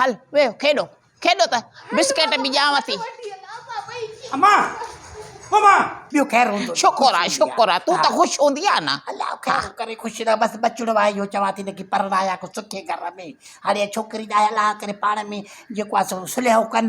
هل ويهه کيڏو کيڏو ته بسڪيٽ به ڄانو ٿي. شڪر آهي شڪر آهي تون ته خوش هوندي آهي نه. الله خير ڪري خوش رهه بس ٻچڙو آهي اهو چوان ٿي نه ڪي پرڻايا ڪو سٺي گهر ۾ هاڻي اهي ڇوڪري ڄائي الله ڪري پاڻ ۾ جيڪو آهي سو صليحو ڪن.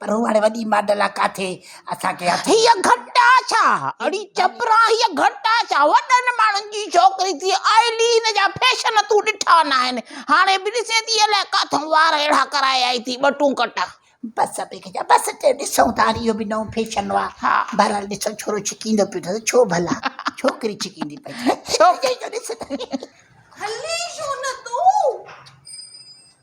پر هو هاڻي وڏي ماڊل آ ڪاٿي اسان کي هٿ هيء گهٽ آ ڇا؟ اڙي چپران هيء گهٽ آ ڇا؟ وڏن ماڻهن جي ڇوڪري ٿي آئل ئي هن جا فيشن تون ڏٺا ناهن. هاڻي به ڏسين ٿي الائي ڪاٿون وار اهڙا ڪرائي آئي ٿي ٻٽون ڪٽا. بس ابي کي چيو بس چي ڏسون ٿا هاڻي اهو به نئون فيشن آ. بهرحال ڏسو ڇورو ڇڪيندو پيو ته ڇو ڀلا ڇوڪري ڇڪيندي پئي ڇوڪري جو ڏس ته. هلين ڇو نه تون.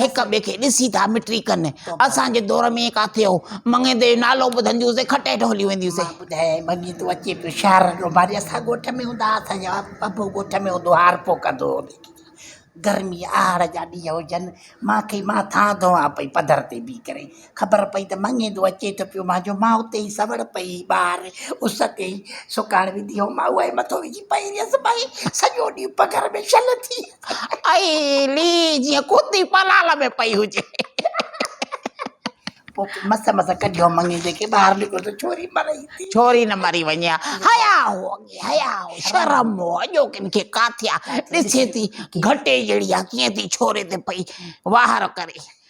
هڪ ٻئي کي ڏسي ٿا مٽري ڪن. اسان جي دور ۾ ائين ڪاٿي هو. مڱيندي جو نالو ٻڌندي هوسين کٽ هيٺ هليون وينديون هوسين. مان ٻڌايائين، مڱيندو اچي پيو شهر جو ماري اسان ڳوٺ ۾ هوندا هئا. اسان جو ابو ڳوٺ ۾ هوندو هو هارپو ڪندو هو. گرمي آهڙ جا ڏينهن هجن، مان کي مان ٿان ڌوئان پئي پڌر تي بيهي ڪري. خبر پئي ته مڱيندو اچي ٿو پيو مانجو ماء اتي ئي سوڙ پئي ٻاهر اس تي سڪڻ وڌي هو ماء اهي مٿو وجهي پئي رهيس ڀائي سڄو ڏينهن پگهر ۾ شل ٿي اي لي جيئن ڪتي پلال ۾ پئي هجي پوء مس مس ڪڍيو مڱيندي کي ٻاهر نڪرو ته ڇوري مري ٿي ڇوري نه مري وڃي ها حيا هو اڳي حيا هو شرم هو اڄو ڪن کي ڪاٿيا ڏسي ٿي گهٽي جهڙي ها ڪيئن ٿي ڇوري تي پئي واهر ڪري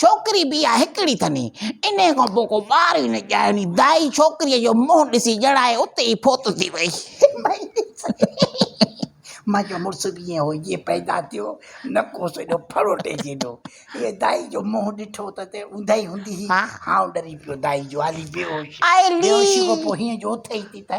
ڇوڪري به اها هڪڙي ٿني. انهيء کان پوء ڪو ٻار ئي نه ڄائي. انهيء دائي ڇوڪريء جو منهن ڏسي ڄڻائي اتي ئي فوت ٿي وئي. منهنجو مڙس به ائين هو جيئن پيدا ٿيو، نڪوس ايڏو ڦڙوٽي جيڏو. هيء دائي جو منهن ڏٺو ته ته اونداهي هوندي هئي. هائون ڏري پيو دائي جو هالي بيهوش. بيهوشيء کان پوء هينئن جو اٿئي ٿي ته.